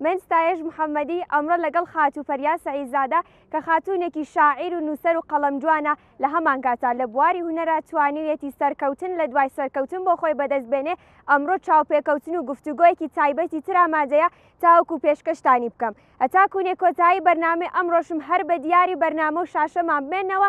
من ستایش محەمەدی ئەمڕۆ لەگەڵ خاتوو پەریا سەعیدزادە کە خاتوونێکی شاعیر و نووسەر و قەڵەمجوانە، لە هەمانکاتە لە بواری هونەرا توانیویەتی سەرکەوتن لە دوای سەرکەوتن بۆ خۆی بەدەست بێنێ، ئەمڕۆ چاوپێکەوتن و گفتوگۆیەکی تایبەتی تر ئامادەیە تاوەکو پێشکەشتانی بکەم. هەتاکوو نێ کۆتایی بەرنامەی ئەمڕۆشم هەر بە دیاری بەرنامە و شاشەمان بمێنەوە،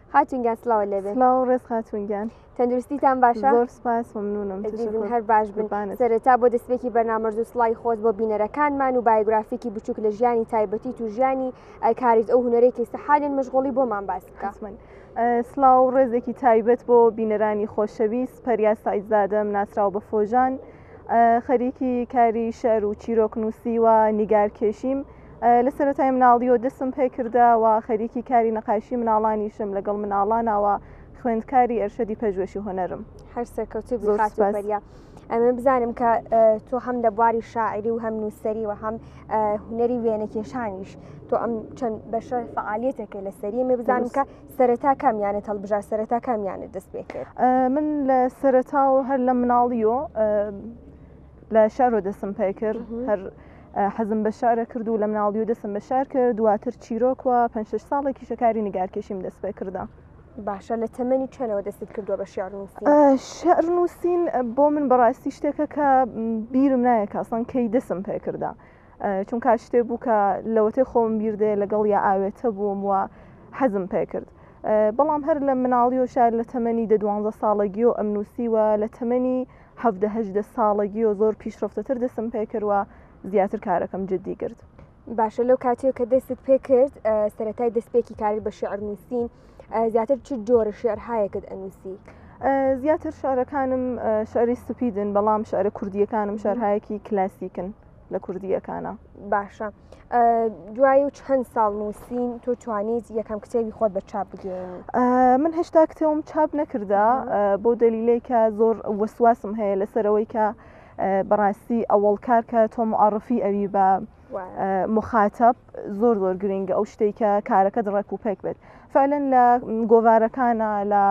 خاتون گیان سلاو لێ بێت سلاو ڕێز خاتون گیان تەندروستیتان باشە زۆر سپاس ممنونم هەر باش بن سەرەتا بۆ دەستپێکی بەرنامەرز و سڵی خۆت بۆ بینەرەکانمان و بایگرافیکی بچووک لە ژیانی تایبەتی تو ژیانی ئەلکاریت ئەو هوەرێکی سەحالین مشغڵی بۆمان باس کەسمن. سلااو ڕێزێکی تایبەت بۆ بینەرانی خۆشەویست پەریا سعیزادەم ناسرااو بە فۆژان خەریکی کاری شەر و چیرۆکنووسی و نیگارکێشیم لە سەرەتای مناڵیەوە دەستم پێکردە و خەریکی کاری نەقایشی مناڵانیشم لەگەڵ مناڵانەوە خوێندکاری ئەرشەدی پەژوێشی هۆنەرم هەر سەرکەوتی بخاتبەریا ئەمە بزانم کە تۆ هەم لە بواری شاعری و هەم نووسری و هەم هوەری وێنەکێشانیش تۆ ئەم چەند بەشە فعالیتەکە لە سەری مێ بزانم کە سەرەتا کامیانە هەڵبژار سەرەتا کامیانە دەست پێ کرد من لە سەرەتا و هەر لە مناڵیۆ لە شارۆ دەسم پێ کرد هەر حەزم بە شارە کرد و لە مناڵی و دەسم بە شار کرد دواتر چیرۆکوە پێ ساڵێکی شەکاری نگارکێشیم دەست پێ کردە. باشە لە تەمەنی چەنەوە دەستت کردووە بە شارنووسی شعر نووسین بۆ من بەڕاستی شتێکە کە بیرم نایە کاسان کەی دەسم پێ کردە چونکە شتێ بوو کە لەوەتێ خۆم بیردێ لەگەڵ یا ئاوێتە بووم وە حەزم پێ کرد. بەڵام هەر لە مناڵی و شار لە تەمەنی دە دوانزە ساڵەگیۆ ئەم نووسیوە لە تەمەنی حەڤدە هەژدە ساڵەگیو زۆر پیشڕەفتەتر دەسم پێکرد و زیاتر کارەکەم جدی گرت. باشە لەو کاتیو کە دەستت پێکرد سەرەتای دەستپێکی کاری بە شعر نووسین زیاتر چ جۆرە شعرهایەکت ئەنووسی؟ زیاتر شعرەکانم شعری سپیدن بەڵام شعرە کوردیەکانم شارهایەکی کلاسیکن. لە کوردیەکانە باشە دوایی و چەند ساڵ نووسین تۆ توانیت یەکەم کتێبی خۆت بە چاپ بگەین من هێشتا کتێوم چاپ نەکردا بۆ دەلیلێکە زۆر وەسواسم هەیە لەسەرەوەی کە بەڕاستی ئەوەڵ کارکە تۆ معڕفی ئەوی بە مخاتب زۆر زۆر گرنگە ئەو شتێکە کارەکە دڕێک و پێک بێت فعلەن لە گۆوارەکانە لە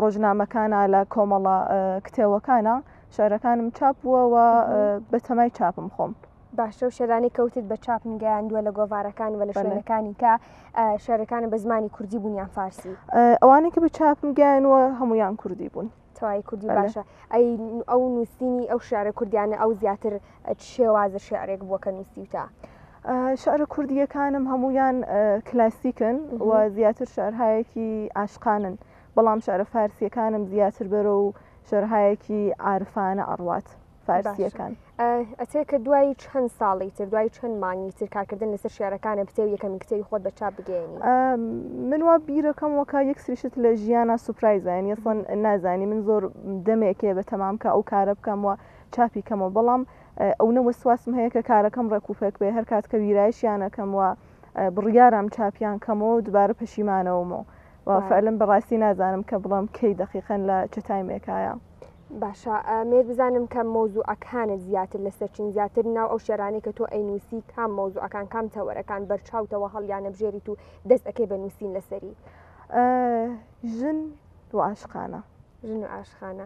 ڕۆژنامەکانە لە کۆمەڵە کتێوەکانە شعرەکانم چاپ بووە و بەتەمای چاپم خۆم. باشە و شەرانی کەوتت بە چاپم گەیاندووە لە گۆڤارەکان و لە شوێنەکانی کە شارەکانە بە زمانی کوردی بوون یان فارسی ئەوانەی کە بە چاپم گەیانوە هەمویان کوردی بوون توای کوردی باشە ئەی ئەو نووسینی ئەو شارە کوردیانە ئەو زیاتر شێوازە شعرێک بووە کە نووسیوتە. شعرە کوردیەکانم هەمویان کلاسیکن و زیاتر شعرهایەکی ئاشقانن بەڵام شعرە فارسیەکانم زیاتر بەرە و شەرهایەکی عرفانە ئەڕوات فارسیەکان ئەتێ کە دوای چەند ساڵی تر دوای چەند مانگی تر کارکردن لەسەر شارەکانە پتێو یەکەمی کتێوی خۆت بە چاپ بگەێنی من وا بیرەکەم وەکە یەک سریشت لە ژیانە سوپرایزان یەسڵەن نازانی من زۆر دەمێکێ بە تەمام کە ئەو کارە بکەم وە چاپی کەمەوە بەڵام ئەو نە وەسواسم هەیە کە کارەکەم ڕێکوپێک بێ هەر کات کە ویرایشیانەکەم وە بڕیارم چاپیان کەمەوە دوبارە پەشیمانەوەمەوە و فعلم بەڕاستی نازانم کە بڵم کەی دەقیقەن لە چ تایمێکایە باشە مێر بزانم کە مۆزوعەکانت زیاتر لە سەرچین زیاتر ناو ئەو شێرانەی کە تۆ ئەینوسی کام مۆزوعەکان کام تەوەرەکان بەرچاوتەوە هەڵیانە بژێریت و دەست ئەەکەی بە نووسین لەسەری ژن و عاشقانە ژن و عاشقانە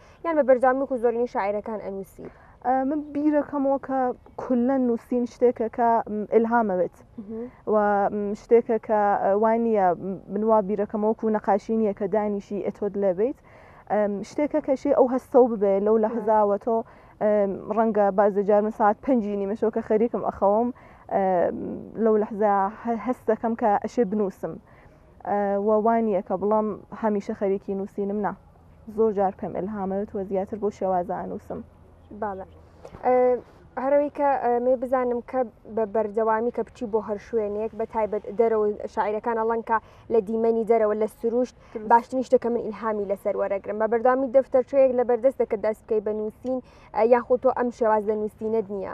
یان بە بەرجامی وەکو زۆرینەی شاعیرەکان ئەنووسی من بیرەکەمەوە کە کولە نووسین شتێکە کە ئلهامەوێت و شتێکە کە وای نییە منوا بیرەکەمەوە و نەقاشی نییە کە دانیشی ئەتۆت لەبیت شتێکە کەشی ئەو هەستەو ببێ لەو لە هەزاوە تۆ ڕەنگە بازجار من ساعت پێنجی نیمەشەوە کە خەریکم ئەخەوم لەو لەحزا هەستەکەم کە ئەشێ بنووسم وەوانە کە بڵام هەمیشە خەریکی نووسینم نا زۆر جار پێم ئلهامەوێت وە زیاتر بۆ شێوازە ئەنووسم باە هەرەوەی کە مێ بزانم کە بە بەردەوامی کە بچی بۆ هەر شوێنێک بە تایبەت دەرەوە شاعیرەکان ئەڵەنکە لە دیمەنی دەرەوە لە سروشت باشتنی شتەکە من ئیلهامی لەسەر وەرەگرم بە بەردامی دەفتەرچەیەک لە بەردەستەکە دەست بکەی بە نووسین یاخۆ تۆ ئەم شێواز لە نووسینت نییە.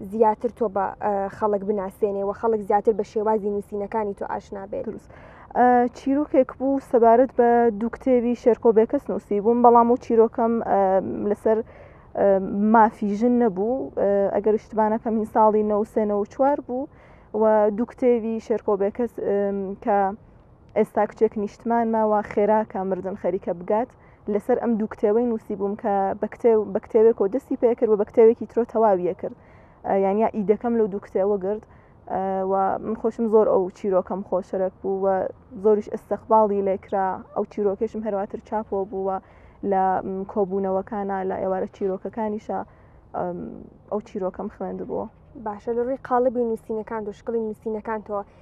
زیاتر تۆ بە خەڵک بناسێنێ و خەڵک زیاتر بە شێوازی نووسینەکانی تۆ ئاشنا بێت دروست. چیرۆکێک بوو سەبارەت بە دوو کتێبی شێرکۆ بێکەس نووسی بووم بەڵام و چیرۆکەم لەسەر مافی ژن نەبوو ئەگەر شتبانەکەم هین ساڵی نەوسێنە و چوار بوو و دوو کتێوی شێرکۆ بێکەس کە ئێستا کچێک نیشتمان ماوە خێراکە مردن خەریکە بگات لەسەر ئەم دوو کتێوەی نووسیبووم کە بە کتێو بە کتێوێکەوە دەستی پێکرد و بە کتێوێکی ترۆ تەواویە کرد یان یا ئیدەکەم لەو دوو کتێوە گرت و من خۆشم زۆر ئەو چیرۆکەم خۆشەرەک بوو و زۆریش ئەستەقباڵی لێکرا ئەو چیرۆکێشم هەرواتر چاپۆ بووە لە کۆبوونەوەکانە لە ئێوارە چیرۆکەکانیشە ئەو چیرۆکەم خوێندبووە باشە لە ڕووی قاڵبی نووسینەکان و شکڵی نووسینەکانتەوە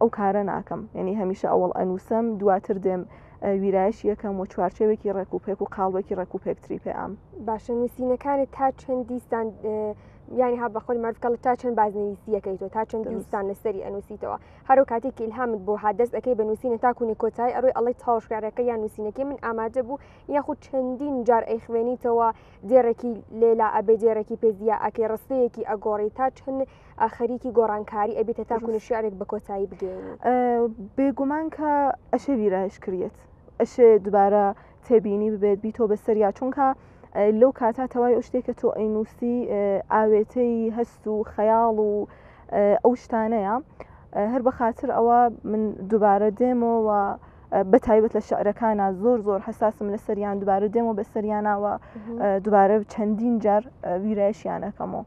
ئەو کارە ناکەم یعنی هەمیشە ئەوڵ ئەنووسم دواتر دێم ویرایش یەکەم و چوارچەوێکی ڕێک و پێک و قاڵبێکی ڕێک و پێکتری پێ ئەم باشە نووسینەکانی تا چەند دیستان یانی ها بەخۆی مەرکەڵ تا چەند بازنویسیەکەی تۆ تا چەند دیستان لەسەری ئەنووسیتەوە هەرو کاتێکی الهامت بۆ هادەست ئەەکەی بە نووسینە تاکوونی کۆتایی ئەروی ئەڵی تاوشکارەکە یان نووسینەکەی من ئامادە بوو یاخود چەندین جار ئەیخوێنیتەوە دێڕێکی لێلا ئەبێ دێڕێکی پێزیە ئەکەی ڕستەیەکی ئەگۆڕی تا چەند ئاخەریکی گۆڕانکاری ئەبیتە تاکو نوشیارێک بە کۆتایی بگەین بێگومان کە ئەشێ ویرایش کریت ئەشێ دوبارە تێبینی ببێت بیتۆ بە سەریا چونکە لەو کاتا تەوای ئەو شتێکە تۆ ئەینوسی ئاوێتەی هەست و خەیاڵ و ئەو شتانەیە هەر بە خاطر ئەوە من دوبارە دێمەوە بە تایبەت لە شعرەکانە زۆر زۆر حساسم لە سەریان دوبارە دێمەوە بە سەریانەوە دوبارە چەندین جار ویرایشیانەکەمەوە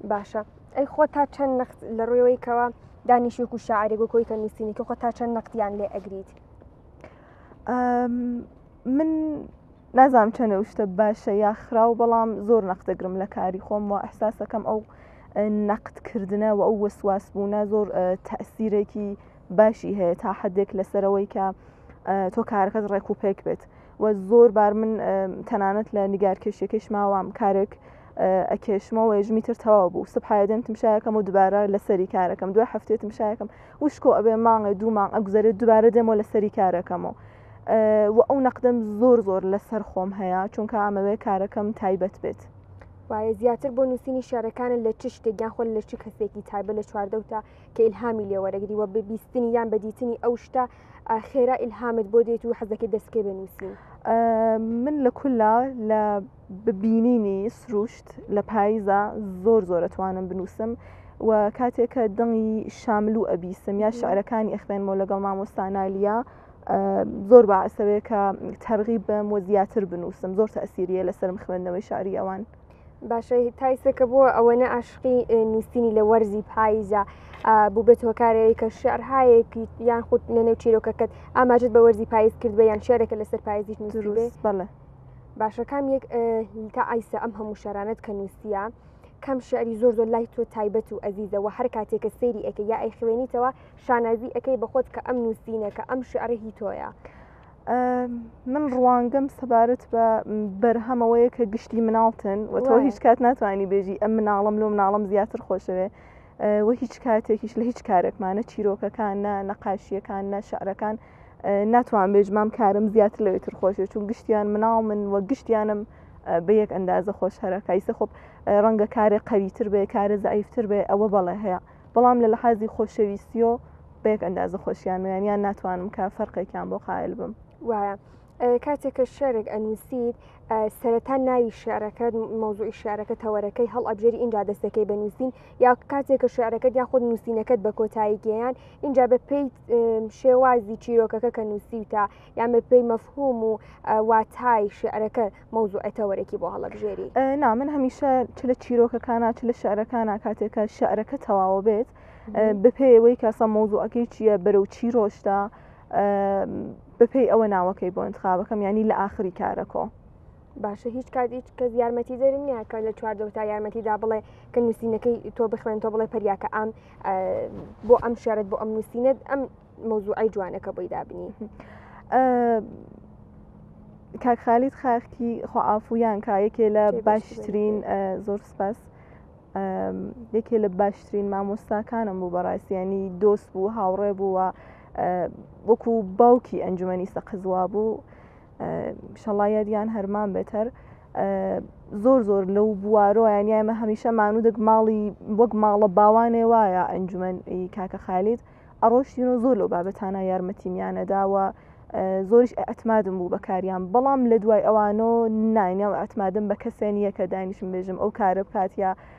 باشە ئەی خۆ تا چەند نەخت لە ڕوێەوەی کەەوە دانیشێک و شاعرێک و کۆی کە نووسینی کە خۆ تا چەند نەختیان لێ ئەگریت من نازام چەنە شتە باشە یا خراو بەڵام زۆر نەختەگرم لە کاری خۆم و ئەحساسەکەم ئەو نەقدکردە و ئەو وەسواس بوونە زۆر تەسیرێکی باشی هەیە تا حدێک لەسەرەوەی کە تۆ کارەکەت ڕێک و پێک بێت و زۆر بار من تەنانەت لە نیگارکێشیەکەش ماوام کارێک ئەکێشمەوە یژمی تر تەواو بوو سبحایدەم تمشایەکەم و دوبارە لەسەری کارەکەم دوای هەفتێت تمشایەکەم وشکۆ ئەبێ مانگە دوو مانگ ئەگوزارێت دوبارە دێمەوە لەسەری کارەکەمەوە و ئەو نەقدەم زۆر زۆر لەسەر خۆم هەیە چونکە ئەمەوێ کارەکەم تایبەت بێت. وایە زیاتر بۆ نووسینی شارەکانە لە چ شتێکیان خۆل لە چ کەسێکی تایبە لە چواردەوتە کە ئیلهامی لێوەرەگری وە ببیستنی یان بەدیتنی ئەو شتە خێرا ئیلهامت بۆ دێت و حەزەکە دەستکێ بە نووسین من لە کولا لە ببینینی سروشت لە پاییزا زۆر زۆر ئەتوانم بنووسم و کاتێک کە دڵی شاملوو ئەبیسم یا شعرەکانی ئەخوێنمەوە لەگەڵ مامۆستا نالیا زۆر بەعسەوەیە کە تەرغیب بم و زیاتر بنووسم زۆر تەسیریە لەسرم خوێندنەوەی شاری ئەوان. باشە تایسەکە بۆ ئەوەنە عاشقی نووسینی لە وەرزی پاییزە بوو بێت هۆکارەیە کە شعرهایەکی یان خودت لەنێو چیرۆکەکەت ئاماژت بە وەرزی پاییز کرد بە یان شارێکە لەسەر پاییزیش نووسروێ بەڵێ. باشە کام یەک تا ئایسە ئەم هەموو شارانت کە نووسە کەم شعری زۆر زۆر لای تۆ تایبەت و ئەزیزەوە هەر کاتێکە سێری ئەەکە یا ئەی خوێنیتەوە شانازی ئەەکەی بەخۆت کە ئەم نووسینەکە ئەم شعرهی تۆیە. من ڕوانگەم سەبارەت بە بەرهەمەوەیە کە گشتی مناڵتن و تۆ هیچ کات ناتوانانی بێژی ئەم مناڵم لۆ مناڵم زیاتر خۆشەوێ وە هیچ کاتێکیش لە هیچ کارێکمانە چیرۆکەکان نە نەقاشیەکان نە شعرەکان ناتوان بێژ مام کارم زیاتر لەوێت تر خۆشێ چون گشتیان مناڵ من وە گشتیانم بە یەک ئەندازە خۆش هەرەکایسە خۆپ ڕەنگە کارێ قەویتر بێ کارە زعیفتر بێ ئەوە بەڵێ هەیە بەڵام لە لەحازی خۆشەویستیۆ بە یەک ئەندازە خۆشیان ویانیان ناتوانم کە فەرقێکیان بۆ قایل بم وایە کاتێک کە شعرێک ئەنووسیت سەرەتا ناوی شعرەکەت مۆزوعی شعرەکە تەوەرەکەی هەڵ ئەبژێری اینجا دەستەکەی بە نووسین یا کاتێک کە شعرەکەت یا خود نووسینەکەت بە کۆتایی گەیان اینجا بە پێی شێوازی چیرۆکەکە کە نووسیوتە یان بە پێی مەفهوم و واتای شعرەکە مۆزوعی تەوەرەکی بۆ هەڵەبژێری نا من هەمیشە چ لە چیرۆکەکانە چ لە شعرەکانە کاتێکە شعرەکە تەواوە بێت بپێوەی کاسە مۆزوعەکەی چییە بەرەو چی ڕۆشتە بەپێی ئەوە ناوەکەی بۆ انتخابەکەم ینی لە ئاخری کارەکۆ باشە هیچ کات هیچ کەس یارمەتی دەر نییە کە لە چواردە تا یارمەتیدا بڵێ کە نووسینەکەی تۆ بخوێن تۆ بڵێ پەریاکە ئەم بۆ ئەم شارەت بۆ ئەم نووسینەت ئەم مۆزوعی جوانەکە بۆی دابنی. کاکخالیت خاختی خۆعافویان کا یەکێ لە باشترین زۆر سپاس یەکێ لە باشترین مامۆستاکانم بوو بەڕاستیانی دۆست بوو هاوڕێ بووە وەکو باوکی ئەنجومی سەقز وابوو شەڵا یادیان هەرمان بێتەر زۆر زۆر لەو بوارۆیان یامە هەمیشە مانودێک ماڵی وەک ماڵە باوانێ وایە ئەنجومەن کاکە خالید ئەڕۆشتین و زۆر لەو بابەتانە یارمەتیمیانەداوە زۆریش ئەتمادم بوو بەکاریان بەڵام لە دوای ئەوانۆ ناینەوە ئەتمادم بە کەسێن یەکە دانیشم بێژم ئەو کارە بکات یا ئە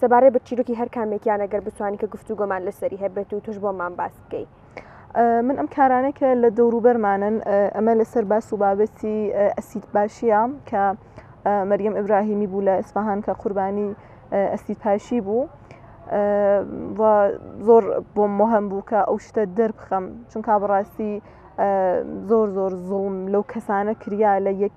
سەبارەت بە چیرۆکی هەر کامێکیان ئەگەر بتوانین کە گفتوگۆمان لەسەری هەبێت و توش بۆمان باس بکەی من ئەم کارانە کە لە دەوروبەرمانن ئەمە لەسەر باس و بابەتی ئەسید باشیە کە مەریەم ئبراهیمی بوو لە ئیسفهان کە قوربانی ئەسید پاشی بوو زۆر بۆ مهم بوو کە ئەو شتە دەربخەم چونکە بڕاستی زۆر زۆر زوڵم لەو کەسانە کریا لە یەک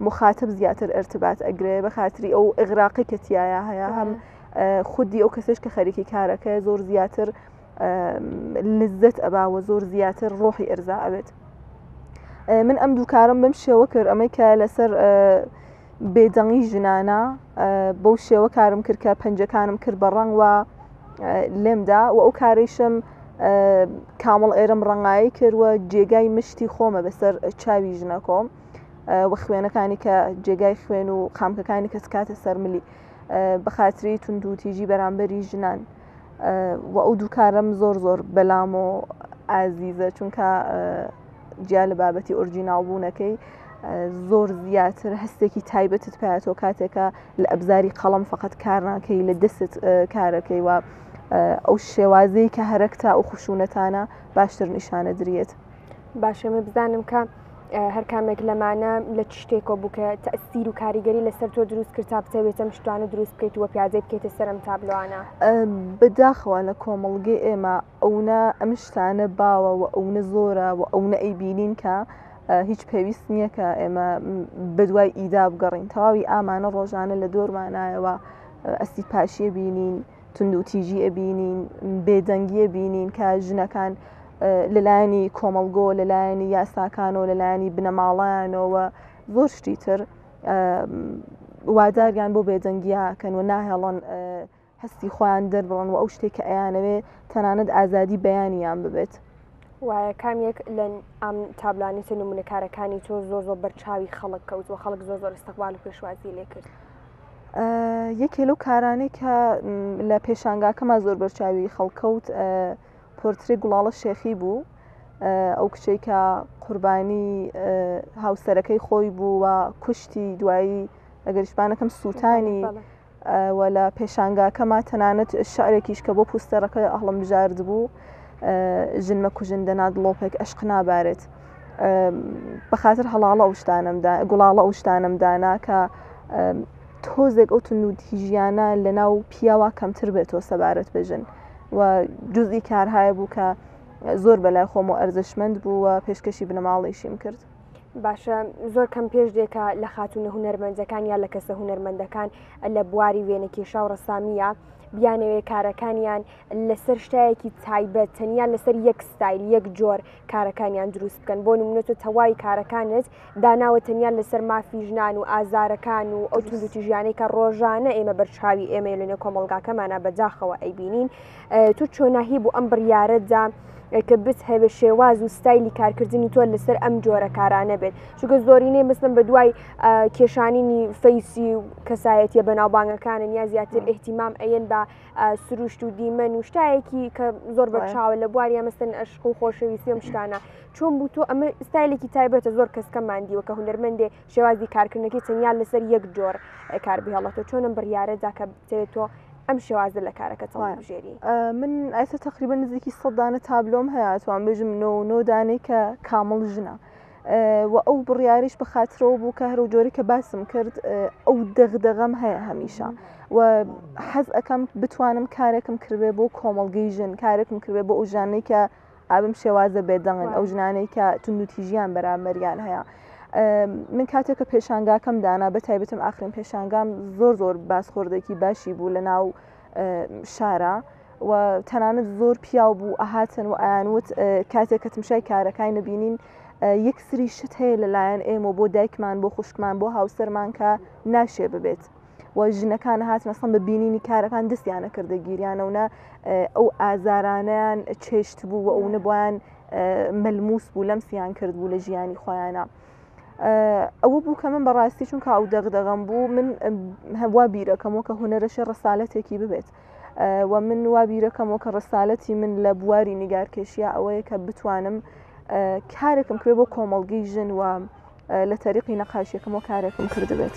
مخاتب زیاتر ارتبات ئەگرێ بە خاتری ئەو ئغراقی کە تایە هەیە هەم خودی ئەو کەسش کە خەریکی کارەکە زۆر زیاتر لزت ئەباوە زۆر زیاتر ڕۆحی ئەرزا ئەوێت من ئەم دووکارم بم شێوە کرد ئەمەی کە لەسەر بێدەنگی ژنانە بەو شێوە کارم کرد کە پەنجەکانم کرد بە ڕەنگ وە لێمدا و ئەو کارێشم کامڵ ئێرم ڕەنگایی کردوە جێگای مشتی خۆمە بەسەر چاوی ژنەکۆم و خوێنەکانی کە جێگای خوێن و قامکەکانی کەس کاتە سەرملی بە خااتری تونند و تیژی بەرامبەری ژنان و ئەو دووکارم زۆر زۆر بەلام و ئازیزە چونکە جیا لە بابەتی ئۆرجیناڵ بوونەکەی زۆر زیاتر هەستێکی تایبەتت پاتەوە کاتێکە لە ئەبزاری قەڵم فقط کارناکەی لە دەست کارەکەی وە ئەو شێوازەی کە هەرەکتا و خشونەتانە باشتر نیشانە درێت. باشەێ بزانم کە هەرکامێک لەمانە لە چ شتێکۆ بووکە تەسیر و کاریگەری لەسەر تۆ دروست کرد تا بتەوێتە مشتوانە دروست بکەیت وە پیازێ بکەیتە سەرم تابلوانە بداخەوە لە کۆمەڵگەی ئێمە ئەونا ئەم شتانە باوە و ئەوە زۆرە و ئەوە ئەیبینین کە هیچ پێویست نییە کە ئێمە بەدوای ئیدا بگەڕین تەواوی ئامانە ڕۆژانە لە دۆرمانایەوە ئەسی پاشیە بینین. توندوتیژی ئەبینین بێدەنگی ئەبینین کە ژنەکان لەلایەنی کۆمەڵگۆ لەلایەنی یاساکانەوە لەلایەنی بنەماڵەیانەوە زۆر شتی تر واداریان بۆ بێدەنگیا کەن و ناهێڵن هەستی خۆیان دەربڕن و ئەو شتێک کە ئەیانەوێ تەنانەت ئازادی بەیانیان ببێت. وایە کام یەک لە ئەم تابلانێتە نمونەکارەکانی تۆ زۆر زۆر بەرچاوی خەڵک کەوت و خەڵک زۆر زۆر استقبال و پێشوازی لێ کرد. یەکێ لەو کارانەی کە لە پێشانگاکەمان زۆر بەرچاوی خەڵکەوت پۆرتری گوڵاڵە شێخی بوو ئەو کچەی کە قوربانی هاوسەرەکەی خۆی بوو و کوشتی دوایی ئەگەریشبانەکەم سووتانی و لە پێشانگاکەما تەنانەت شعرێکیش کە بۆ پوستەرەکە ئەهڵم بژارد بوو ژنمە کوژن دەنات لۆپێک ئەشق نابارێت. بە خاتر هەڵاڵە ئەو شتانمدا گوڵاڵە ئەو شتانم دانا کە تۆزێک ئەو تون و تیژیانە لە ناو پیاوە کەمتر بێتەوە سەبارەت بژن و جزئی کارهایە بوو کە زۆر بەلای خۆم و ئەرزشمەند بوو و پێشکەشی بنەماڵیشیم کرد. باشە زۆر کەم پێش دێکە لە خاتونە هوەرمەندەکان یا لە کەسە هوەرمەندەکان لە بواری وێنەکێشا و ڕسامیە بیانەوێ کارەکانیان لەسەر شتایەکی تایبەت تەنیا لەسەر یەک ستایل یەک جۆر کارەکانیان دروست بکەن بۆ نمونە تۆ تەواوی کارەکانت داناوە تەنیا لەسەر مافی ژنان و ئازارەکان و ئەو توندوتی ژیانەی کە ڕۆژانە ئێمە بەرچاوی ئێمە لەنێ کۆمەلگاکەمانە بەداخەوە ئەیبینین تو چۆناهی بۆ ئەم بڕیارەدا کە بت هەوێ شێواز و ستایلی کارکردنی تۆ لەسەر ئەم جۆرە کارانە بێت چونکە زۆرینەی مەسم بە دوای کێشانینی فەیسی و کەسایەتە بەناوبانگەکانن یا زیاتر احتیمام ئەەن بە سروشت و دیمەن و شتایەکی کە زۆر بەرچاوە لە بواری ئەمەستن ئەشق و خۆشەویستی ئەم شتانە چۆن بوو تۆ ئەمە ستایلێکی تایبەتە زۆر کەسکە مادیوە کە هوەرمەندێ شێوازی کارکردنەکەی تەنیا لەسەر یەک جۆر کار بهێڵەتە چۆنم بڕیارەدا کە بتەوێت تۆ ئەم شێوازە لە کارەکە تەڵژێری من ئایسە تقریبا نزیکی سەدانە تابلۆم هەیە توان بژم نۆ نۆدانێکە کامڵ ژنە. وە ئەو بڕیاریش بەخاترەوە بوو کە هەرو جۆری کە باسم کرد ئەو دەغدەغەم هەیە هەمیشە و حەز ئەەکەم بتوانم کارێکم کردێ بۆ کۆمەلگەی ژن کارێکم کردێ بۆ ئەو ژانەی کە ئابم شێوازە بێدەنگن ئەو ژنانەی کە تونوتیژیان بەرامەریان هەیە من کاتێک کە پێشانگاکەم دانا بە تایبەتم ئاخرین پێشانگام زۆر زۆر باسخۆردێکی باشی بوو لە ناو شارا و تەنانەت زۆر پیاو بوو ئەهاتن و ئایانوت کاتێک کە تمشای کارەکانی نبینین یەک سری شت هەیە لەلایەن ئێمە بۆ دایکمان بۆ خوشکمان بۆ هاوسەرمان کە ناشێ ببێت. و ژنەکان هاتنەسەم بە بینینی کارەکان دەستیانە کردە گیریانەونە ئەو ئازارانیان چێشت بوو و ئەو نەبیان ملموس بوو لەم سیان کرد بوو لە ژیانی خۆیانە. ئەوە بوو کە من بەڕاستی چونکە ئەو دەغدەغم بوو من هەوا بیرەکەمەوە کە هوەرەشە ڕسالەتێکی ببێت و من وا بیرەکەمەوە کە ڕسالەتی من لە بواری نیگارکێشیە ئەوەیە کە بتوانم کارێکم کرێ بۆ کۆمەڵگەی ژن و لە تەریقی نەقاشیەکەم و کارێکم کردبێت.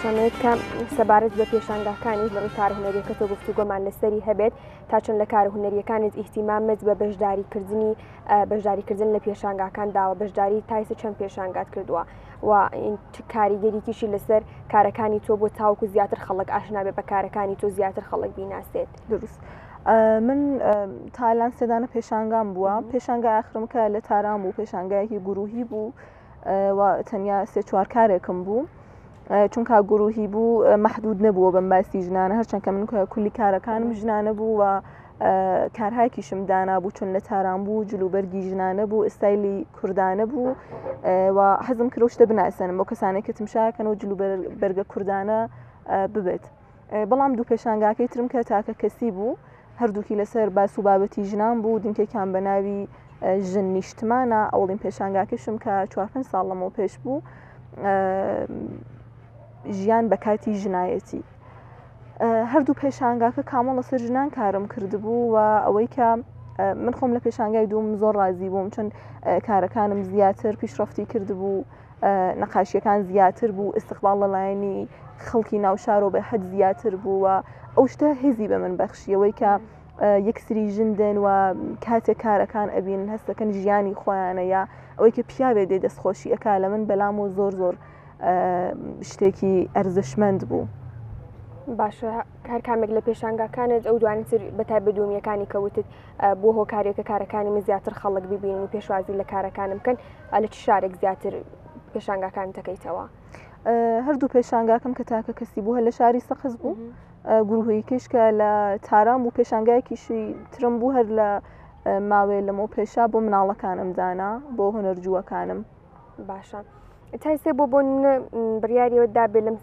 دەتوانێت کە سەبارەت بە پێشانگاکانیش لە ڕووی کار هوەریەکە تۆ گفتو گۆمان لەسەری هەبێت تا چەند لە کار هوەریەکانت ئیهتیمامت بە بەشداریکردنی بەشداریکردن لە پێشانگاکان داوە بەشداری تایس چەند پێشانگات کردووە و کاریگەریکیشی لەسەر کارەکانی تۆ بۆ تاوکو زیاتر خەڵک ئاشنابێ بە کارەکانی تۆ زیاتر خەڵک بیناسێت دروست. من تالان سێدانە پێشانگام بووە پێشانگا ئاخرمکە لە تاران بوو پێشانگایەکی گروهی بوو و تەنیا سێ چوار کارێکم بوو چونکە گروهی بوو محدود نەبووە بەم باسی ژنانە هەرچەند کە من کولی کارەکانم ژنانە بوو و کارهاکیشم دانابوو چون لە تاران بوو جلوبەرگی ژنانە بوو ئستایلی کوردانە بوو و حەزم کرۆشتە بناسەنم بۆ کەسانێکتم شاکەن و جلوبەرگە کوردانە ببێت. بەڵام دوو پێشانگاکەی ترم کە تاکە کەسی بوو هەردووکی لەسەر باس و بابەتی ژنان بوو دنکێکیان بە ناوی ژن نیشتمانە ئەوڵین پێشانگاکەشم کە چوارپن ساڵ لەمەوە پێش بوو ژیان بە کاتی ژنایەتی هەردوو پێشانگاکە کامۆ لەسەر ژنان کارم کردبوو و ئەوەی کە من خۆم لە پێشانگای دوم زۆر ڕازی بووم چون کارەکانم زیاتر پیشڕفتی کردبوو نەقاشیەکان زیاتر بوو ئستقبال لەلایەنی خەڵکی ناوشارۆ بە حەد زیاتر بووە ئەو شتە هزی بە من بەخشیەوەی کە یەکسری ژن دێن و کاتێک کارەکان ئەبین هەستەکەن ژیانی خۆیانە یا ئەوەی کە پیاوێ دێ دەستخۆشی ئەک لە من بەلام و زۆر زۆر شتێکی ئەرزشمەند بوو. باشە کار کامێک لە پێشانگاکانت ئەو دوانتر بەتای بدومیەکانی کەوتت بووە هۆکارێک کە کارەکانی من زیاتر خەڵک ببینن و پێشوازی لە کارەکانم بکەن لە چ شارێک زیاتر پێشانگاکان دەکەیتەوە هەردوو پێشانگاکەم کە تاکە کەسی بوو هە لە شاری سەقز بوو گروهی کشکە لە تارام و پێشانگایکیشی ترم بوو هەر لە ماوەیە لەمەو پێشا بۆ مناڵەکانم دانا بۆ هەنەرجووەکانم باشە. تایسێ بۆ بۆن بڕیاریەوە دابێ لەم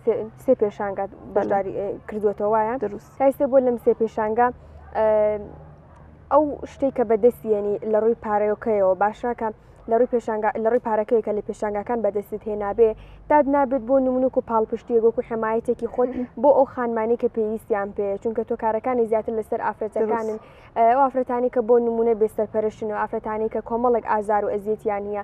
سێ پێشانگا بەشداری کردوێتەوە وایە دروست تایسێ بۆ لەم سێ پێشانگا ئەو شتێک کە بەدەستیێنی لە ڕووی پارەیۆکەیەوە باشەکە لە ڕووی پێشانگا لە ڕووی پارەکەیەکە لە پێشانگاکان بەدەستت هێنابێ داد نابێت بۆ نمونک و پاڵپشتیە گۆک و حمایەتێکی خۆت بۆ ئەو خانمانی کە پێویستیان پێ چونکە تۆ کارەکانی زیاتر لەسەر ئافرەتەکانن ئەو ئافرەتانی کە بۆ نمونە بێسەرپەرشتن و ئافرەتانی کە کۆمەڵک ئازار و ئەزیەتیان نیە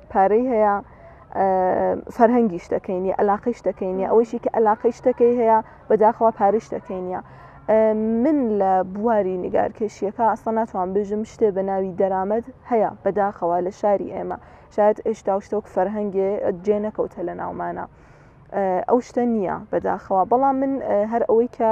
پارەی هەیە فەرهەنگی شتەکەینی ئەلاقی شتەکەینی ئەوەیشی کە ئەلاقی شتەکەی هەیە بەداخەوە پارش شتەکەینە من لە بواری نیگارکێشیەکە ئەستا ناتوان بژم شتێ بە ناوی دەرامەت هەیە بەداخەوە لە شاری ئێمە شاید ئێشتا و شتۆک فەرهەنگێ جێ نەکەوتە لە ناومانە ئەو شتە نییە بەداخەوە بەڵام من هەر ئەوەی کە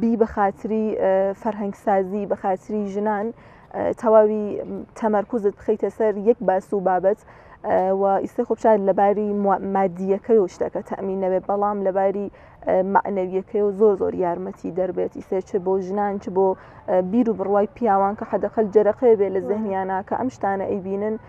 بی بەخاتری فەرهەنگ سازی بەخاتری ژنان تەواوی تەمەرکوزت بخیتە سەر یەک باس و بابەت و ئیستا خۆپشار لەباری مادیەکەی و شتەکە تەمین نەبێت بەڵام لەباری معنەویەکەی و زۆر زۆر یارمەتی دەربێت ئیسێ چ بۆ ژنان چ بۆ بیر و بڕوای پیاوان کە حەدەقل جەرەقێ بێ لە زەهنیانە کە ئەم شتانە ئەیبینن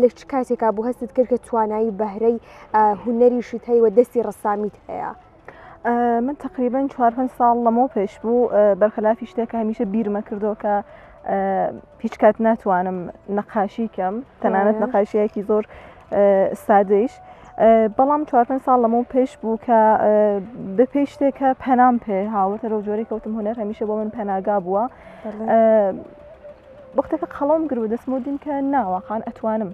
لە چ کاتێکا بوو هەستت کرد کە توانایی بەهرەی هوەریشی تەیوە دەستی ڕسامیت هەیە. من تقریبان چوار پێ ساڵ لەمەوە پێش بوو بەرخلافی شتێک هەمیشە بیرمە کردو کە هیچ کات ناتوانم نەقاشی کەم تەنانەت نەقاشیەکی زۆر سادەیش بەڵام چوار پێ ساڵ لەمە پێش بوو کە بە پێی شتێکە پەنام پێ هاوتە لەو جۆری کەوتم هوەر هەمیشە بۆ من پەناگا بووە وەختەکە قەڵەوم گرت و دەستمەوە دیم کە نا واقعەن ئەتوانم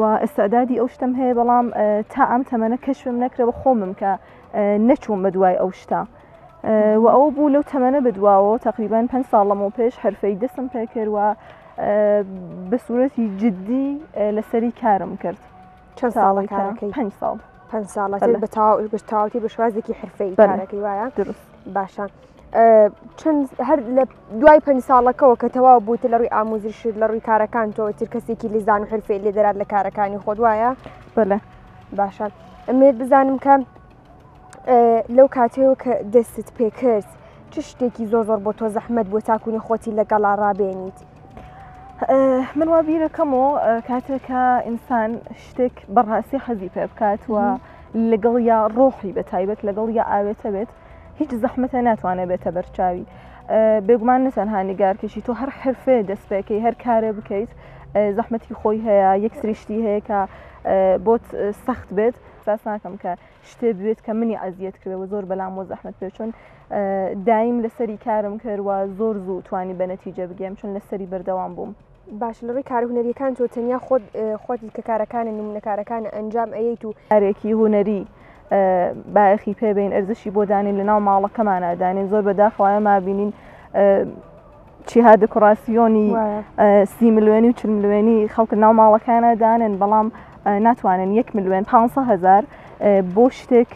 و ئیستعدادی ئەو شتەم هەیە بەڵام تا ئەم تەمەنە کەشفم نەکرەوە خۆمم کە نەچووم بە دوای ئەو شتە. و ئەوە بوو لەو تەمەە بدواوە تقریبان پێ ساڵەمەوە پێش هەرفەی دەستم پێکردوە بە سوورەتی جددی لەسەری کارم کرد چەند ساڵی کارەکەی پێ ساڵ پێ ساڵەکەی بەتاوی بەشوازێکی حرفەی بەرەکەی وایە درست باشە. چەند هەر لە دوای پنج ساڵەکەەوە کە تەواو بوویت لە ڕووی ئاموزش لە ڕووی کارەکان تۆ تر کەسێکی لیزان و حرفێ لێ دەرات لە کارەکانی خۆ دوایە بڵێ باشە ئەمێت بزانم کە لەو کاتەوە کە دەستت پێکرد چ شتێکی زۆر زۆر بۆ تۆ زەحمت بۆ تاکوونی خۆتی لەگەڵا ڕابێنیت من وا بیرەکەم و کاتێکە ئینسان شتێک بەڕاستی حەزی پێ بکات وە لەگەڵ یا ڕۆحی بە تایبەت لەگەڵ یا ئاوێتە بێت هیچ زەحمەتە ناتوانێت بێتە بەرچاوی بێگومان نەتەنها نیگارکەشی تۆ هەر حرفێ دەستپێکی هەر کارێ بکەیت زەحمەتی خۆی هەیە یەک سریشتی هەیە کە بۆت سەخت بێت ساس ناکەم کە شتێ بێت کە منی ئازیەت کردەوە زۆر بەلام و زەحمت پێ چۆن دایم لەسەری کارم کردوە زۆر زوو توانی بە نەتیجە بگەم چون لەسەری بەردەوام بووم. باشە لەڕووی کارە هونەریەکان تۆ تەنیا خۆت خۆت کە کارەکانە نمونەکارەکانە ئەنجام ئەیەیت و کارێکی هونەری بایەخی پێبین ئەرزشی بۆ دانین لە ناو ماڵەکەمانە دانین زۆر بەداخەوە ئێمە بینین چیها دکڕاسیۆنی سی ملوێنی و چ ملوێنی خەڵک ناو ماڵەکانە دانن بەڵام ناتوانن یەک ملوێن 500 هزار بۆ شتێک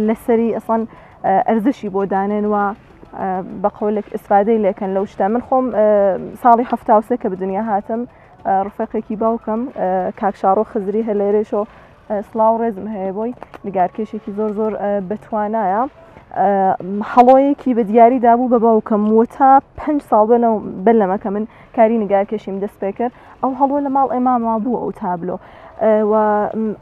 لەسەری ئەسان ئەرزشی بۆ دانێن و بە قەولێک ئیسفادەی لێکەن لەو شتە من خۆم ساڵی هەفتاوسێ کە بدنیا هاتم ڕفەقێکی باوکم کاکشاڕۆ خزری هە لێرێشۆ سلااو ڕێزم هەیە بۆی نگارکێشێکی زۆر زۆر بەتوانایە هەڵۆیەکی بە دیاری دابوو بە باوکم و تا پ ساڵ بەنەوە بەر لەمەکە من کاری نگارکێشیم دەست پێ کرد ئەو هەڵۆ لە ماڵ ئێماما بوو ئەو تابلۆ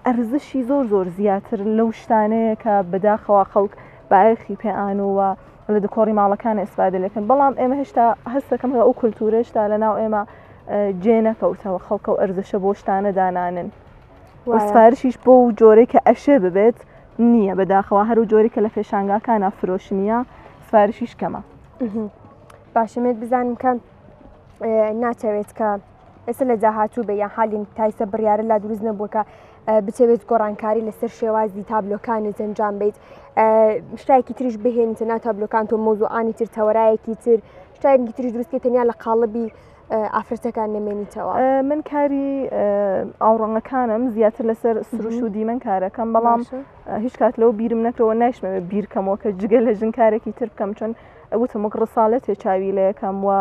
ئەرزشی زۆر زۆر زیاتر لەو شتانەیە کە بەداخەوە خەڵک بایەخی پێان و لە دکۆڕی ماڵەکان ئیسفادە لەکەن بەڵام ئێمە هێشتا هەستەکەم ئەو کولتورە هێشتا لە ناو ئێمە جێ نەکەوتەوە خەڵکە و ئەرزشە بۆ شتانە دانانن وەسفارشیش بۆ و جۆرەی کە ئەشێ ببێت نییە بەداخەوە هەرو جۆری کە لە فێشانگاکانە فرۆشنیە سفارشیش کەمە باشەمێت بزانم کە ناتەوێت کە ئێستا لە داهاتوو بە یان حالین تایسە بڕیارە لا دروست نەبووە کە بچەوێت گۆڕانکاری لەسەر شێوازی تابلۆکانی جەنجام بیت شتایکی تریش بهێنیتە نا تابلۆکان تۆ مۆزوعانی تر تەوەرایەکی تر شتایکی تری دروستکە تەنیا لە قاڵبی ئافرەتەکان نەمێنیتەوە من کاری ئاوڕەنگەکانم زیاتر لەسەر سروش و دیمەن کارەکەم بەڵام هیچ کات لەو بیرم نەکەوە نایشمەوە بیرکەمەوە کە جگە لە ژنکارێکی تر بکەم چۆن ئەوتم وەک ڕساالەتێ چاوی لەکەم وە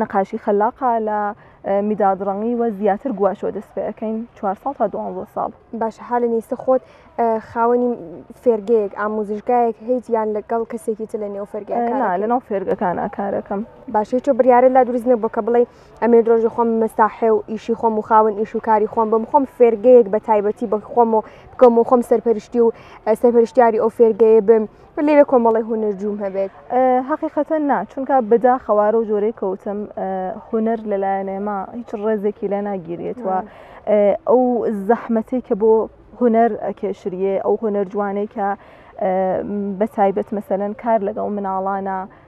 نەقاشی خەلاقا لە میدادڕەنگی وە زیاتر گوواچۆ دەست پێەکەین چوار ساڵ تا دوانزە ساڵ باش حالە نیستە خۆت خاوەنی فێرگەیەک ئاموزشگایەک هیچ یان لەگەڵ کەسێکی تر لە نێو فەرگە لە ناو فێرگەکان ئاکارەکەم باشی تۆ بریاە لا دروست نە بۆ کە بڵێ ئەمێ درۆژی خۆم مەساحێ و ئیشی خۆم و خاون ئیش و کاری خۆم بم خۆم فێرگەیەک بە تایبەتی بە خۆم و بکەم و خۆم سەرپەرشتی و سەرپەرشتیاری ئەو فێرگەیە بم لێوێ کۆمەڵی هونەر جووم هەبێت حقیقەتە نا چونکە بەدا خەوارە و جۆرەی کەوتم هونەر لەلایەن ئێمە هیچ ڕێزێکی لە ناگیرێتەوە ئەو زەحمەتی کە بۆ هونەر ئەکێشریێ ئەو هونەر جوانەی کە بە تایبەت مەسەەن کار لەگەڵ مناڵانە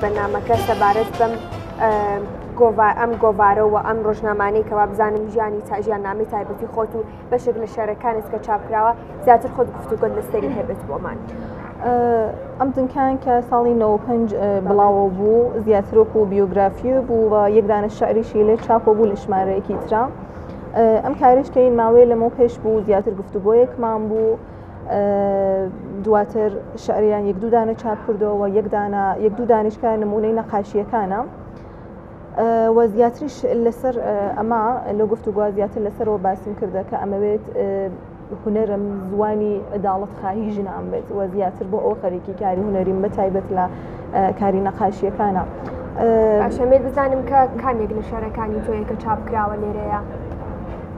بە نامەکە سەبارەت بەم ئەم گۆڤارە و ئەم ڕۆژنامانەی کەوا بزانم ژیانی تاژیان نامی تایبەتی خۆت و بەشێک لە شارەکانت کە چاپراوە زیاتر خۆت گفتوگۆت لەسەری هەبێت بۆمان. ئەم دنکان کە ساڵی 95 بڵاوە بوو زیاترۆک و بیوگرافی بوو و یەکدانە شعریشی لێ چاپۆ بوو لە ژمارەیەکی تررا ئەم کارشکەین ماوەیە لەمە پێش بوو زیاتر گفتوگۆیەکمان بوو دواتر شعریان یەک دوودانە چاپ کردەوە یەکدانە یەک دوو دانیشکە نمونەی نەقاشیەکانە وە زیاتریش لەسەر ئەمە لە گفت و گوازیاتر لەسەرەوە باسم کردە کە ئەمەوێت هوەرم زوانی عداڵت خواهی ژنان بێت وە زیاتر بۆ ئەو خەرێکی کاری هوەریم بە تایبەت لە کاری نەقاشیەکانە. ئەشەمێت بزانم کە کامێک لە شارەکانی تۆیە کە چاپکراوە لێرەیە.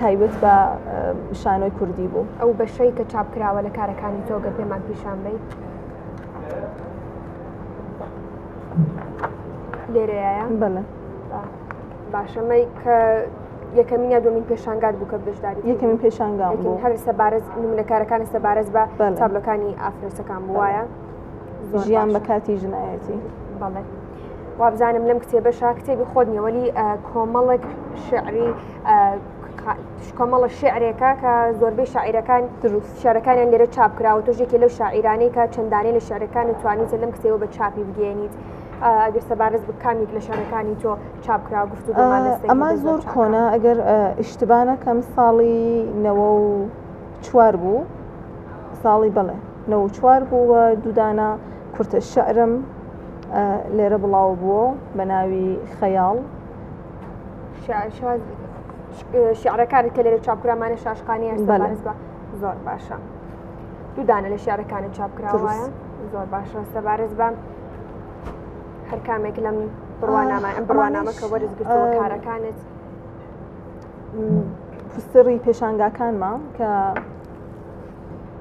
تایبەت بە شانۆی کوردی بوو ئەو بەشەی کە چاپکراوە لە کارەکانی تۆگە پێمان پیشان بیت لێرەیە بەڵێ باشەمەی کە یەکەمین یا دومین پێشانگات بوو کە بەشداری یەکەمین پێشانگا هەر سەبارەت منەکارەکانی سەبارەت بە تابلەکانی ئافرەتەکان بواە ژیان بە کاتی ژنایەتی بەڵێ وابزانم لەم کتێبە شا کتێبی خۆت نیەوەلی کۆمەڵێک شعری کۆمەڵە شعرێکە کە زۆربەی شاعیرەکان دروست شارەکانیان لێرە چاپ کراوە تۆژێکی لەو شاعیرانەی کە چەندانێ لە شارەکان و توانیت لەم کتێوە بە چاپی بگەێنیت. ئەگەر سەبارەت بکامیک لە شارەکانی تۆ چاپکرا گفت ئەما زۆر کۆنا ئەگەر ئیشتبانەکەم ساڵی نەوە و چوار بوو ساڵی بڵێ نەوە و چوار بوو و دوو دانە کورتە شعرم لێرە بڵاو بووە بە ناوی خەیاڵ شعرەکانت کە لێرە چاپکرامانە شاشقانیان بەڵێز بە زۆر باشە دوو دانە لە شعرەکانت چاپکراوە زۆر باشە سەبارز بە هەر کامێک لەم بڕوانامە ئەم بڕوانامە کە وەرزگرتەوە کارەکانت فستری پێشانگاکانمان کە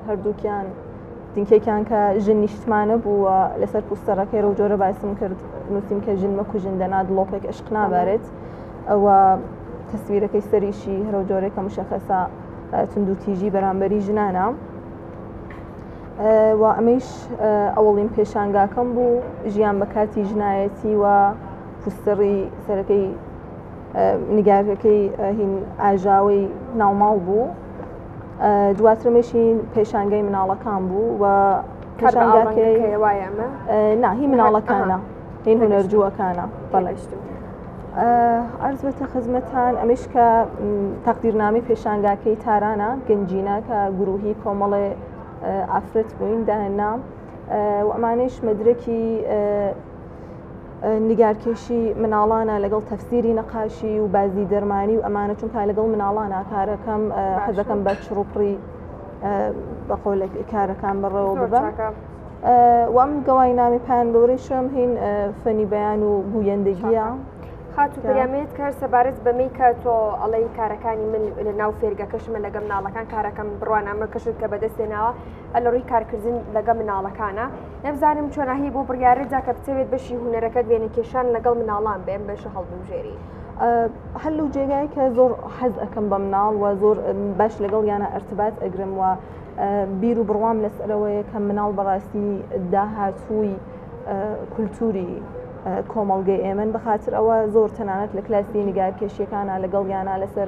هەردووکیان دینکێکیان کە ژن نیشتمانە بووە لەسەر پوستەرەکەی و جۆرە باسم کرد نووسیم کە ژن مەکوژن دەنا دڵۆپێک عشق نابارێت ئەوە تەسویرەکەی سەریشی هەرو جۆرێکە مشەخەسە تونند و تیژی بەرامبەری ژنانە و ئەمەیش ئەوڵین پێشانگاکەم بوو ژیان بە کاتی ژنایەتی و پوستەڕی سەرەکەی نگارەکەی هین ئاژاوی ناوماڵ بوو دواترمەشی پێشانگەی مناڵەکان بوو و ناهی مناڵەکانە هین هونەرجووەکانە بەڵشت ئەرز بێتە خزمەتان ئەمش کە تەقدیرنامی پێشانگاکەی تارانە گەنجینە کە گروهی کۆمەڵێ ئافرەت بووین داهێنام و ئەمانش مەدرکی نیگارکێشی مناڵانە لەگەڵ تەفسیری نەقاشی و بازی دەرمانی و ئەمانە چونکە لەگەڵ مناڵانە کارەکەم حەزەکەم بە چڕوپڕی بەقۆل کارەکان بەڕەوە ببم وام گەوای نامی پان گەورەی شم هین فەنی بەیان و گوویندەگیە خاتو پەیامێت کار سەبارەت بەمەی کە تۆ ئەڵەی کارەکانی من لە ناو فێرگەکەشمە لەگەم ناڵەکان کارەکەم بڕوانامە کەشت کە بەدەستێناوە لەڕووی کارکردن لەگە مناڵەکانە نەبزانم چۆناهی بۆ بڕیارە جاکە بتەوێت بەشی هوەرەکەت وێنە کێشان لەگەڵ مناڵان بێن بەشە هەڵبژێری هەل و جێگای کە زۆر حەز ئەەکەم بە مناڵ و زۆر باش لەگەڵ یانە ئەرتبات ئەگرم وە بیر و بڕوام لەسەرەوەیە کە مناڵ بەڕاستی داهاتووی کولتوری کۆمەڵگەی ئێمن بەخاتر ئەوە زۆر تەنانەت لە کلاسی نیگارکێشیەکانە لەگەڵ یانە لەسەر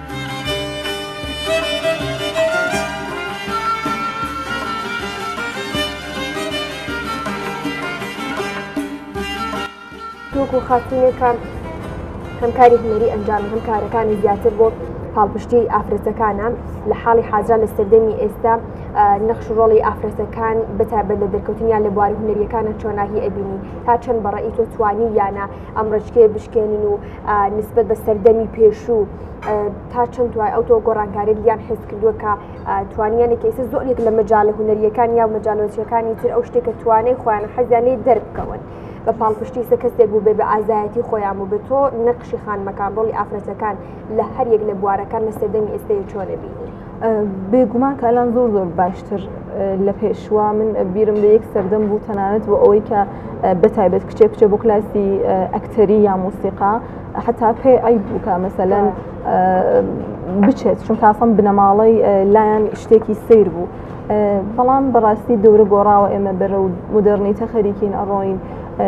دوک و خاتونێکان هەم کاری هونەری ئەنجام هەم کارەکانی زیاتر بۆ پاڵپشتی ئافرەتەکانە لە حاڵی حاجا لە سەردەمی ئێستا نەخش ڕۆڵی ئافرەتەکان بەتابەت لە دەرکەوتنیان لە بواری هونەریەکانە چۆناهی ئەبینی تا چەند بەڕی تۆ توانی یانە ئەم ڕچکێ بشکێنین و نسبەت بە سەردەمی پێشوو تا چەند توای ئەو تۆ گۆڕانکاریت یان حس کردووە کە توانیانێک ئێستا زۆرێک لە مەجاالە هوەریەکان یا مەجالۆچیەکانی تر ئەو شتێکە توانێت خۆیان حەزیانی دەربکەون. بە پاڵپشتی سە کەسێک بوو بێ بە ئازایەتی خۆیان بوو بێت تۆ نەخشی خانمەکان ڕۆڵی ئافرەتەکان لە هەریەک لە بوارەکان لە سەردەمی ئێستەیە چۆنە بینی. بێگومان کالان زۆر زۆر باشتر لە پێشوە من بیرم لە یەک سەردەم بوو تەنانەت بۆ ئەوەی کە بەتایبەت کچێ کچێ بۆ کلاسی ئەکتەری یا موسیقا حتا پێ ئەی بووکە مەسەلەن بچێت چون تاسم بنەماڵەی لایەن شتێکی سیر بوو. بەڵام بەڕاستی دەورە گۆڕاوە ئێمە بەرە و مدررنی تەخەریکین ئەڕۆین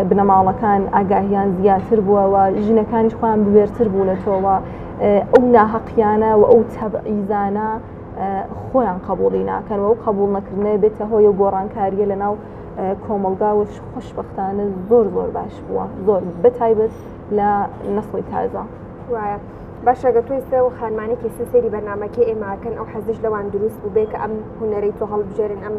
بنەماڵەکان ئاگاهیان زیاتر بووەوە ژنەکانیش خۆیان بوێرتر بوو لە تۆوە ئەو ناهەقیانە و ئەو تەبعیزانە خۆیان قبولی ناکەن و ئەو قبول نەکردنێ بێتە هۆی و گۆڕانکاریە لە ناو کۆمەلگا و خوشببختانە زۆر زۆر باش بووە زۆر بەتایبەت لە نەخۆی تازە وایە. باشەگە توی سێ و خانمانێکی سێ سێری بەرنمەکە ئێماکەن ئەو حەزش لەوان دروست بوو بێ کە ئەم هوەرەی تۆ هەڵبژێرن ئەم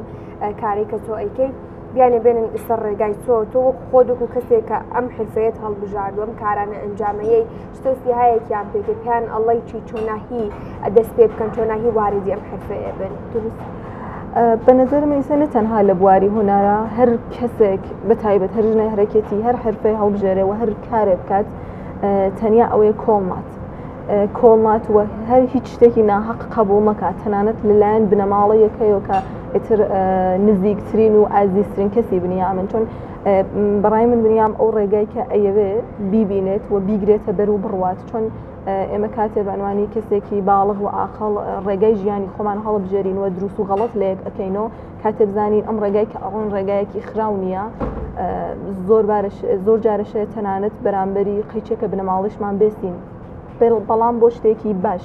کاری کە تۆ ئەیکەیت بیانە بێنن ئیسەر ڕێگای تۆ تۆ وەک خۆدوک و کەسێک کە ئەم حرفەیەت هەڵبژاردوەم کارانە ئەنجامەیەی ستە سیهایەکیان پێ کرد پێیان ئەڵی چی چۆناهی دەست پێ بکەن چۆناهی واردی ئەم حرفەیە بن دروست بە نظرم ئیسە نە تەنها لە بواری هوەرە هەر کەسێک بە تایبەت هەر ژنە هەرەکەتی هەر حرفی هەڵبژێرێ و هەر کارێ بکات تەنیا ئەوەیە کۆڵمات کۆڵمات و هەر هیچ شتێکی ناحق قبول مەکات تەنانەت لەلایەن بنەماڵە یەکەیەوە کە ئتر نزیکترین و ئازیزترین کەسی بنیامن چۆن بەڕای من دنیام ئەو ڕێگای کە ئەیەوێ بیبینێت و بیگرێتە بەر و بڕوات چۆن ئێمە کاتێ بەنوانی کەسێکی باڵغ و ئاقل ڕێگای ژیانی خۆمان هەڵبژێرین و دروست و غەڵت لەیەک ئەەکەینەوە کاتێ بزانین ئەم ڕێگای کە ئەڕۆن ڕێگایەکی خراو نییە زۆر زۆر جارەشێت تەنانەت بەرامبەری قەیچێکە بنەماڵیشمان بێستین بەڵام بۆ شتێکی باش.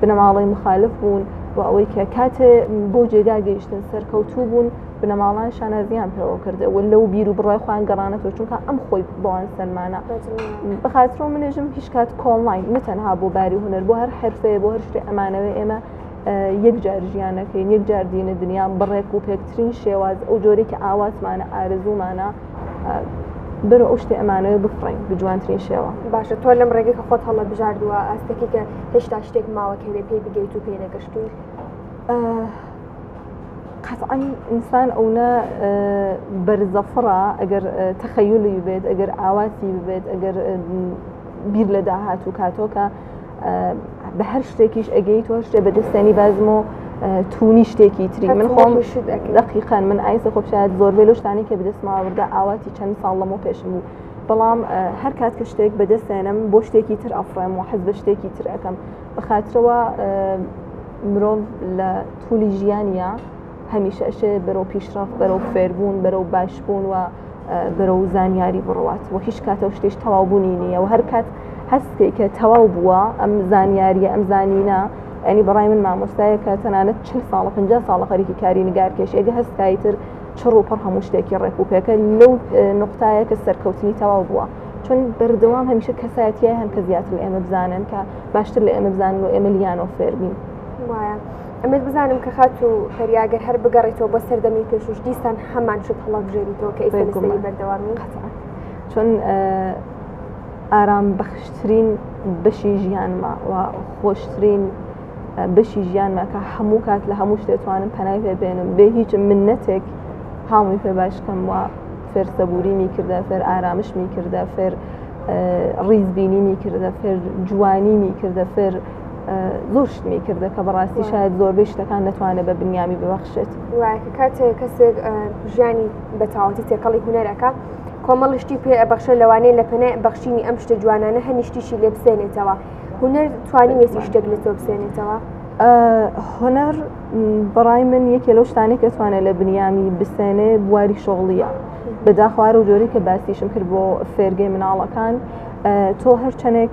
بنەماڵەی مخالف بوون و ئەوەی کە کاتێ بۆ جێگا گەیشتن سەرکەوتوو بوون بنەماڵان شانازیان پێوە کردە و لەو بیر و بڕای خۆیان گەڕانەوە چونکە ئەم خۆی بۆوان سەلمانە بەخاترۆ منێژم هیچ کات کۆڵناین نەتەنها بۆ باری هوەر بۆ هەر حرفەیە بۆ هەر شتێ ئەمانەوە ئێمە یەک جار ژیانەکەین یەک جار دینە دنیا بڕێک و پێکترین شێواز ئەو جۆرێکی ئاواتمانە ئارزومانە بەرە ئەو شتێ ئەمانەوە بفڕین بجوانترین شێوە باشە تۆ لەم ڕێگەی کە خۆت هەڵە بژاردووە ئاستەکە کە هێشتا شتێک ماوە کەێ پێی بگەیت و پێی نەگەشتوی قەتعەن ئینسان ئەونا بەرزەفڕە ئەگەر تەخەیلی بێت ئەگەر ئاواتی بێت ئەگەر بیر لە داهات و کاتۆکە بە هەر شتێکیش ئەگەی تۆ شتێ بە دەستێنی بازم و تونی شتێکی تری من خۆم دقیقان من ئایسە خۆپشایەت زۆر بێ لەشتانی کە بدەستماوەدا ئاواتی چەند ساڵ لەمە پێشم بوو بەڵام هەر کات کە شتێک بەدەستێنم بۆ شتێکی تر ئەفرێم و حەز بە شتێکی تر ئەەکەم بەخاترەوە مرۆڤ لە تولی ژیانە هەمیشە ئەشێ بەرەو پیشڕاف بەرەو فێربوون بەرەو باشبوون و بەرەو زانیاری بڕوات و هیچ کاتە و شتیش تەواوبوونی نییە و هەر کات هەستێک کە تەواو بووە ئەم زانیاریە ئەم زانینە ئەنی بەڕای من مامۆستایە کە تەنانەت چ ساڵە پ ساڵە خەریکی کاری نگارکێش ئێگە هەستایی تر چڕ و پڕ هەموو شتێکی ڕێک و پێکە لەو نقطایە کە سەرکەوتنی تەواو بووە چون بەردەوام هەمیشە کەسایەتیای هەن کە زیاتر ئێمە بزانن کە باشتر لە ئێمە بزانن و ئێمە لیانۆ فێربین وایە. ئەمەوێت بزانم کە خاتوو فەریا گەر هەر بگەڕێتەوە بۆ سەردەمی پێشوش دیسان هەمان شت هەڵبژێریتەوە کە ئیستا بێگومان. لەسەری بەردەوامی قەتعا. چون اه، ئارام بەخشترین بەشی ژیانمە و خۆشترین اه، بەشی ژیانمە کە هەموو کات لە هەموو شتێ توانم پەنای پێ بێنم بێ هیچ منەتێک هاومی پێ باش کەم و فێر سەبوریمی کردە فێر ئارامشمی کردە فێر اه، ڕیزبینیمی کردە فێر جوانیمی کردە فێر زۆر شتمی کردە کە بەڕاستی شاید زۆربەی شتەکان دەتوانێت بە بنیامی ببەخشێت وایکە کاتێک کەسێک ژیانی بەتاوەتی تێکەڵی هوەرەکە کۆمەڵشتی پێ ئەبەخشە لەوانەیە لە پەنای بەخشینی ئەم شتە جوانانە هەنیشتیشی لێ بسێنێتەوە هوەر توانی وێتی شتێک لە تۆ بسێنێتەوە هۆنەر بەڕای من یەکێ لەو شتانێک کەتوانێت لە بنیامی بسێنێ بواری شغڵیە بەداخوارە و جۆری کە باسیشم کرد بۆ فێرگەی مناڵەکان تۆ هەرچەنێک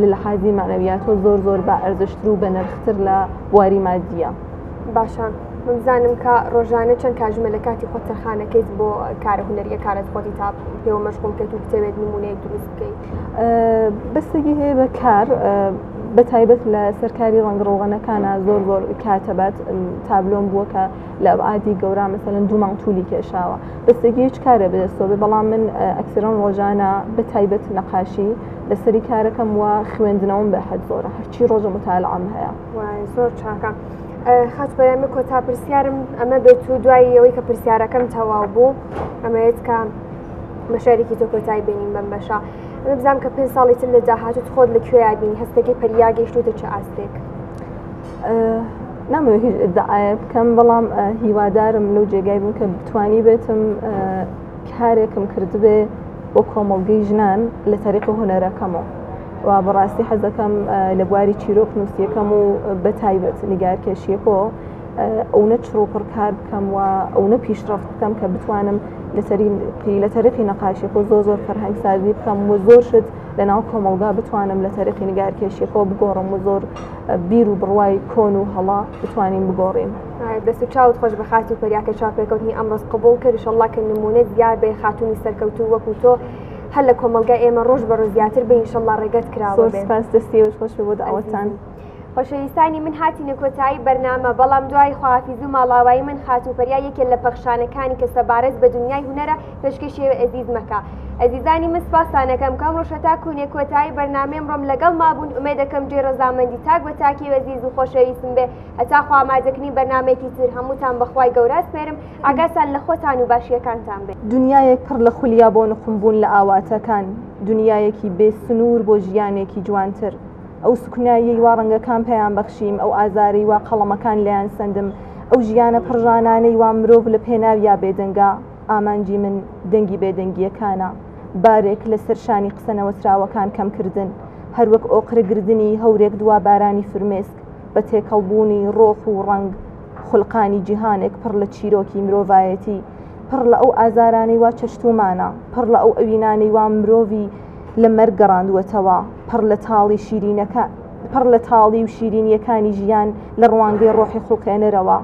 لە لەحازی معنەویاتۆ زۆر زۆر بە ئەرزشتر و بە نرختر لە بواری مادیە باشە بزانم کە ڕۆژانە چەند کاژمە لە کاتی خۆ تەرخانەکەیت بۆ کارە هوەریە کارت خۆتی تا پێوە مەشغول کەت و بتەوێت نمونەیە دروست بکەیت بەسەگی هەیە بە کار بە تایبەت لە سەرکاری ڕەنگڕۆغەنەکانە زۆر زۆر کاتەبات تابلۆم بووە کە لە ئەبعادی گەورە مەسەلەن دوو مانگ تولی کێشاوە بەستێکی هیچ کارێ بەدەستەوە بێ بەڵام من ئەکسرم ڕۆژانە بە تایبەت نەقاشی لەسەری کارەکەم وە خوێندنەوەم بە حەد زۆرە هەرچی ڕۆژە متالعام هەیە زۆر چاکە. خاچ بەرەمە کۆتا پرسیارم ئەمە بێت و دوایی ئەوەی کە پرسیارەکەم تەواو بوو ئەمەیت کە مەشارێکی تۆ کۆتای بینین بەم بەشە بزانام کە پێ ساڵی تر لە داهاتوت خۆت لە کوێ یابین هەستەکەی پەریا گەشتوتە چ ئاستێک. نامەوێت هیچ ئدعاە بکەم بەڵام هیوادارم لەو جێگای بوون کە بتانی بێتم کارێکم کردبێ بۆ کۆمەڵگەی ژنان لە تەریق و هوەرەکەمەوە و بەڕاستی حەزەکەم لە بواری چیرۆک نووسیەکەم و بە تایبەت نیگارکێشیەکۆ ئەوە چڕۆپڕ کار بکەم و ئەوە پیشڕفت بکەم کە بتوانم لەسەری لە تەرقی نەقاشیەکە زۆر زۆر فەرهەنگ سازی بکەم و زۆر شت لە ناو کۆمەڵگا بتوانم لە تەرقی نیگارکێشیەکەەوە بگۆڕم و زۆر بیر و بڕوای کۆن و هەڵا بتوانین بگۆڕین دەست و چاوت خۆش بە خاتی پەریاکە چاپێکەوتنی ئەمڕۆز قبول کرد شەڵا کە نمونە زیاد بێ خاتونی سەرکەوتو وەکو تۆ هەر لە کۆمەلگای ئێمە ڕۆژ بە ڕۆژ زیاتر بە ئینشەڵا ڕێگەت کراوە پاس دەستی خۆش بۆ داوەتان. خۆشەویستانی من هاتی نەکۆتایی بەرنامە بەڵام دوای خواافیز و ماڵاوایی من خاتوپەریا یەکێ لە پەخشانەکانی کە سەبارەت بە دنیای هوەرە پێشکەشی ئەزیز مەکە ئەزیزانی من سپاستانەکەم کەم ڕۆژە تا کوونێ کۆتایی بەرنامەی ئەمڕۆم لەگەڵ مابوون ئومێ دەکەم جێ ڕەزامەندی تاک بە تاکی وەزیز و خۆشەویستم بێ هەتا خوامادەکنی بەرنمێکی تر هەمووتان بەخوای گەورات پێرم ئاگاتان لە خۆتان و باشیەکانتان بێ دنیایەک پڕ لە خولیا بۆ نقوم بوون لە ئاواتەکان دنیایەکی بێ سنوور بۆ ژیانێکی جوانتر ئەو سوکناییەی وا ڕەنگەکان پێیان بەخشیم ئەو ئازارەی وا قەڵەمەکان لەیان سندم ئەو ژیانە پڕژانانەی وا مرۆڤ لە پێناویا بێدەنگە ئامانجی من دەنگی بێدەنگییەکانە، بارێک لەسەر شانی قسە نەوتراوەکان کەمکردن، هەروەک ئۆقرەگرتنی هەورێک دوا بارانی فرمێسک، بە تێکەڵبوونی ڕۆح و ڕەنگ، خولقانی جیهانێک پڕ لە چیرۆکی مرۆڤایەتی، پڕ لە ئەو ئازارانەی وا چەشتوومانە، پڕ لە ئەو ئەوینانەی وا مرۆڤی لە مەرگ گەڕاندووەتەوە، پڕ لە تاڵی شیرینەکە، پڕ لە تاڵی و شیرینییەکانی ژیان لە ڕوانگەی ڕۆحی خوڵقێنەرەوە.